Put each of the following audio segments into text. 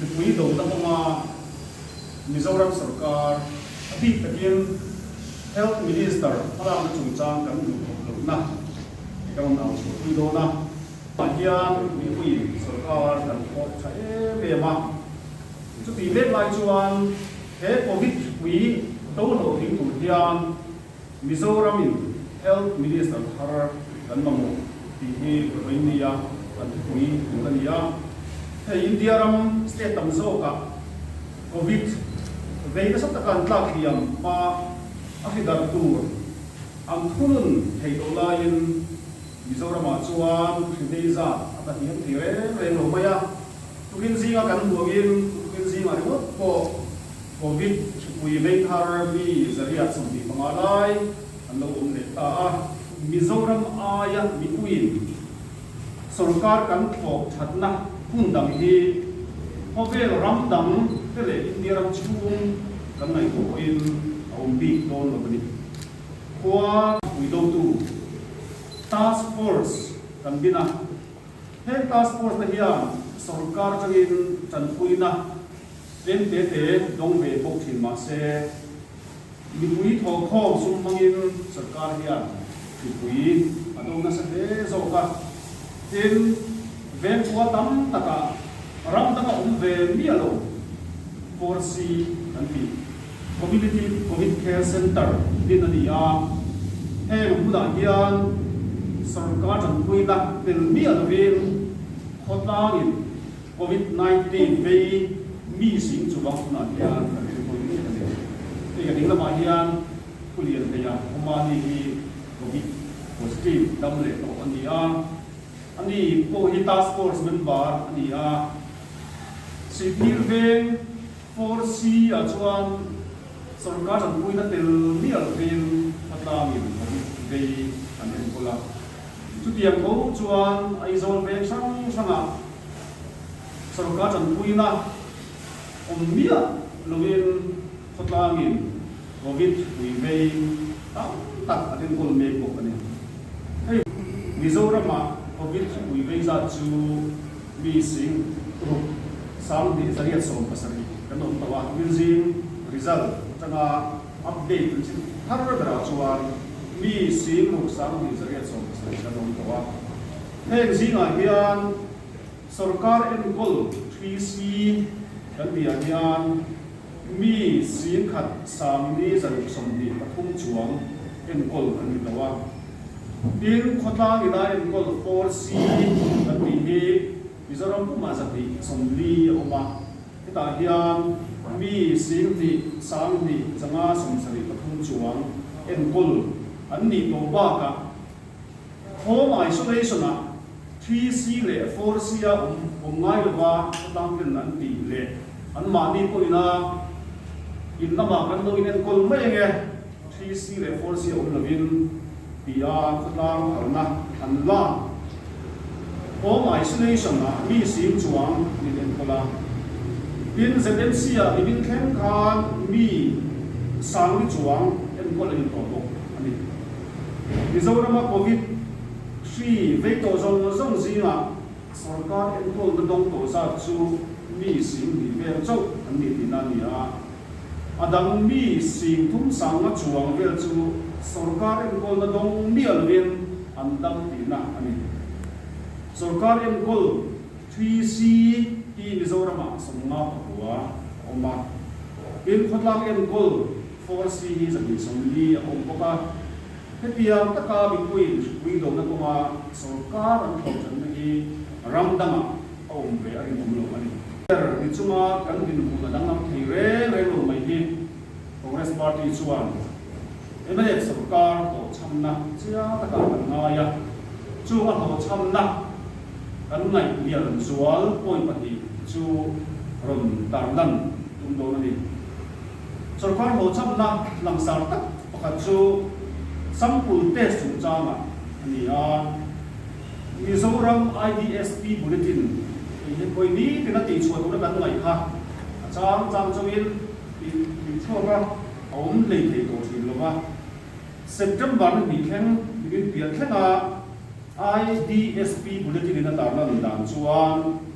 Mipui dona hmanga Mizoram sawrkar a bik takin Health Minister thlalakna chungchang kan hmuh thawk lohna hi ka rawn au chhuah pui dawn a. Mah hian mipui sawrkar kan thawk tha em em a. Chutih mek lai chuan he Covid mipui do hlawh ding tur hian Mizoramin Health Minister thar kan mamawh tih hi Rohingya an thupui tur a ni a, hei India ram state tam zawkah Covid vei nasa taka an tlak hliam hma a hridarh tur an thunun thei loh laiin Mizoramah chuan hrideizat a ta hiam thei reng reng lo mai a. Tukin zinga kan buangin tukin zinga ringawt pawh Covid thupui vei thar mi zariah sawm tih panga lai an lo awm leh ta a. Mizoram aia Mipuiin sorkar kan thawk thatna hun dang hi khawvel ram dang te leh India ram chhung kan ngaihtuah pawhin a awm bik dawn lo a ni. Khua thupui dotu task force kan bin a. Heng task force te hian sawrkar changin tanpuina en te te dawng ve bawk thin mahse mipui thawkhawm sum hmangin sawrkar hian thupui a dawng nasa hle zawk a. Tin, vengkhua tam takah ram danga awm ve miah lo, kawr si kan tih. Community Covid Care Centre din a ni a, heng hmunah hian sawrkar chanpuina tel miah lovin khawtlangin Covid nineteen vei mi sing chuvang hmunah hian a rilru mek a ni. Hei a ding lamah hian khulian hleia awmani hi Covid positive dam leh tawh a ni a, a ni pawh hi task force member a ni a, Sihphir veng. Four C ah chuan sawrkar zanpuina tel mial pheiin khaw tlangin Covid vei an enkawl a, chutiang bo chuan Aizawl vel hrang hrangah sawrkar zanpuina awm miah lovin khaw tlangin Covid ui vei tam tak an enkawl mek bawk a ni. Hei Mizoramah Covid ui vei zat chu. Mi sing ruk sang tih zariat sawm pasarih kan awm tawh a, Minzin result atanga update an chim har berah chuan mi sing ruk sang tih zariat sawm pasarih kan awm tawh a, heng zingah hian sawrkar enkawl three C kan bia hian, Mi sin khat Samni zaruk sawmhnih pathum chuang enkawl an ni lo a. Tin, khawtlang ila enkawl RC kan tih hi Mizoram pumah zahnih sawmli a awm a, hetah hian mi sin hnih, sang hnih, changa sawmsarih pathum chuang enkawl an nih tawh bakah, Khawm isolation ah three C leh four C a awm awm ngai lo a khawtlang ten an ti leh an mahni pawh ina in lamah kan lo in enkawl mai ang e three C leh four C a awm lovin ti a khawtlang harna an la home isolation ah mi sim chuang min enkawl a tin ZMC ah min in thleng khan mi sangni chuang enkawl a ni tawh bawk a ni. Mizorama Covid hri vei tawh zawng zawng zingah sorkar enkawl na dawng tawh zat chu mi sing hnih vel chauh an ni tihna a ni a. A dang mi sing thum sanga chuang vel chu sorkar enkawl na dawng miah lovin an dam tihna a ni. Sorkar enkawl hri si hi Mizoramah sawmnga pakua a awm a, tin khawtlak enkawl, Force hi zahnih sawmli a awm bawk a, hetiang taka mipui hripui dawhna kawnga sawrkar an thlawhthatna hi ram dangah a awm ve a rinawm lo a ni. Ber ni chunga kan dinhmun a danglam thei reng reng lo mai hi Congress Party chuan mlf sawrkar hlawhchhamna chiang takah kan ngai a, chung a hlawhchhamna kan ngaih hliar zual pawi pahnih chu rawn tarlan tum dawn a ni. Sorkar hawhchhakna langsar tak pakhat chu Sangpul test chungchangah a ni a. Mizoram IDSP Bulletin eihe khawi ni tiin a tih chhuah tura kan ngaih kha a chang chang chauhin ih ih chhuak a awm lei thei tawh thin lo va. September na hnih thleng mimin piah thlengah IDSP Bulletin in a tarna an dan chuan,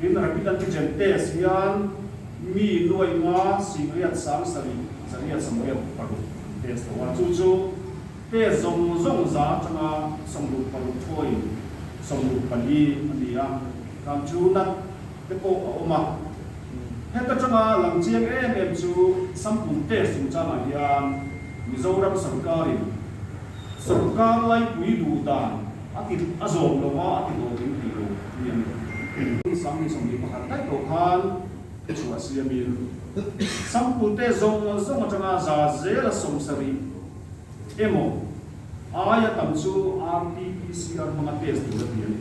Min rapid antigen test hian mi nuaima sihriat sang sarih zariat sawmriat paruk an test lo a, chu chu test zawng zawng za atanga sawmruk paruk thawiin sawmruk pali a ni a, thlân chu nat te pawh a awm a. Hek atanga lam chiang em em chu sample test chung changah hian Mizoram sarkarin sawrkar laipui duh dan, A ti a zawm lo va, a ti zawm min ti lo mi a ni lo tih. Hmun sang ni sawm ni pakhat daih lo khan i chhuah sia mi lo. Sangpute zawng zawng atanga za zela sawmsarih emaw aia tam chu RT-PCR hmanga test tura ti a ni.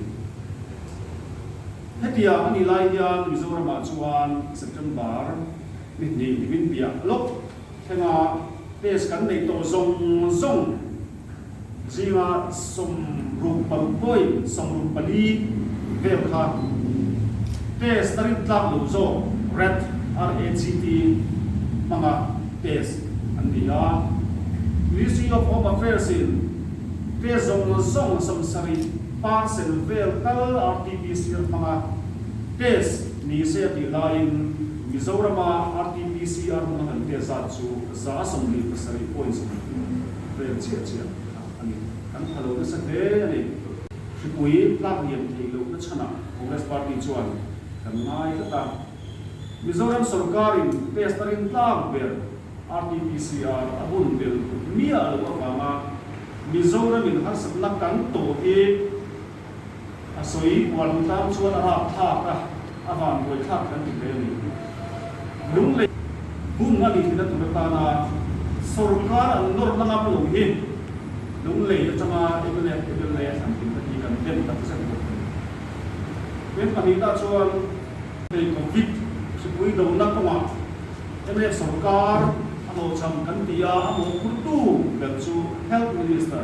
Hetiang a nih lai hian Mizoramah chuan September mi hnih ni min piah lawk. Thlengah test kan nei tawh zawng zawng zinga sawmruk paruk pawi, sawmruk pali, vel kha test a rin tlak lo zawk rat, RAGT, hmanga test an ni a. Ministry of Home Affairs in test zawng zawng a sam sarih parcel vel kal RT-PCR hmanga test ni se a tih laiin, Mizorama RTPC a rung a kan tia zat chu za sawmli pasarih pawhin sawmli thum kan ni, vel chiah chiah kha a ni. Kan pha lo nasa hle a ni. Hripui tlak liam theih lohna chhana Congress Party chuan kan ngai tlat a. Mizoram sawrkarin test a rin tlak ber RTPC a a bun tel miah loh avanga Mizoramin harsatna kan tawh hi, A sawi uar duh tlang chuan a rap thlak a, a van buai thlak kan ti hle a ni. Lunglei bung a ni thin a tur atana sawrkar an nawrna ngam lo hi Lunglei atanga mlf, mla thlanpui te hi kan den tak zet bawk a ni. Veng pahnih tah chuan. Hei Covid thipui dona kawngah mlf sawrkar a hlawhchham kan ti a, a mawhphurtu ber chu Health Minister.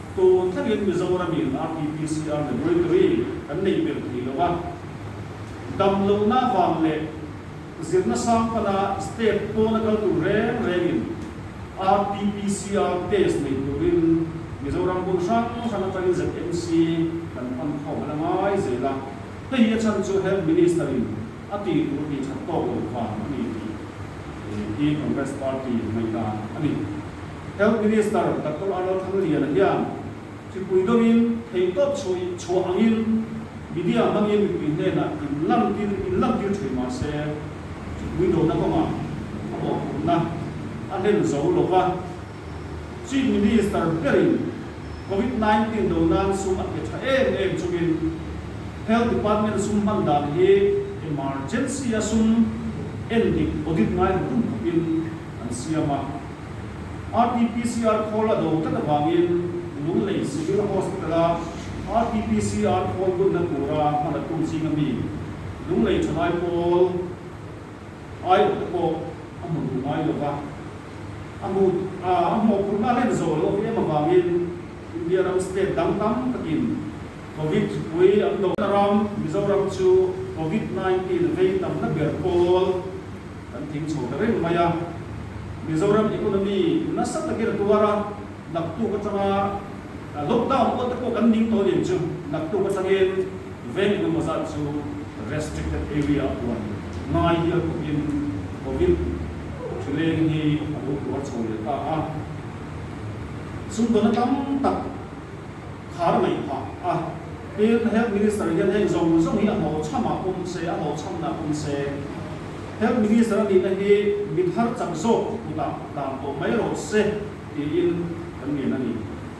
Tawng thlengin Mizoramin RTPCR Laboratory kan neih ber thei lo a, damlohna vang leh zirna sang pana state pawna kal tur reng rengin RTPCR test neih turin Mizoram hun hrang hrang atangin ZMC kan pan khawm a la ngai zel a. Hei hi a chhan chu Health Minister in. A tih duh anih chhak tawk lo vang a ni tih hi Congress Party ngaih dan a ni. Health Minister Doctor Arnal Thangliana hian thipui dawngin thei tawp chhuah ih chhuah angin media hmangin mipui hnenah in lantir in lantir thin mah se thipui dona kawngah a bawhputna a hlen zo lova, Chief Minister berin Covid nineteen do nan sum a hme tha em em chungin Health Department sum hman dan hi Emergency a sum en dik audit ngai hmu dup dup in an siam a. Rt PCR khawl a do tlat avangin Lunglei Civil Hospital a Rt PCR khawl bunna tura hman a tu ching ami Lunglei thalai pawl, Aiawh te pawh a hmu duh ngai lo va, a hmu a a hmuh phurhna hlek zawh loh em avangin India ram state dang tam takin Covid thipui an dawh a ram Mizoram chu Covid nineteen vei tamna ber pawl kan thing chho ta reng mai a, Mizoram economy nasa takin a tuar a, naktuk atanga lockdown awlte pawh kan ning tawh aniang chu naktuk atangin. Veng emaw zat chu restricted area ah puan ngai hial bawkin Covid thileng hi a buk rual chho leh ta a. Chung dona tam tak khar ngaih phah a. Tin, Health Minister hian heng zawng zawng hi a hmawchham ah pawm se, a hmawchham na pawm se, Health Minister a nihna hi mithar chak zawk kutah dan tawh mai rawh se tiin kan lian a ni.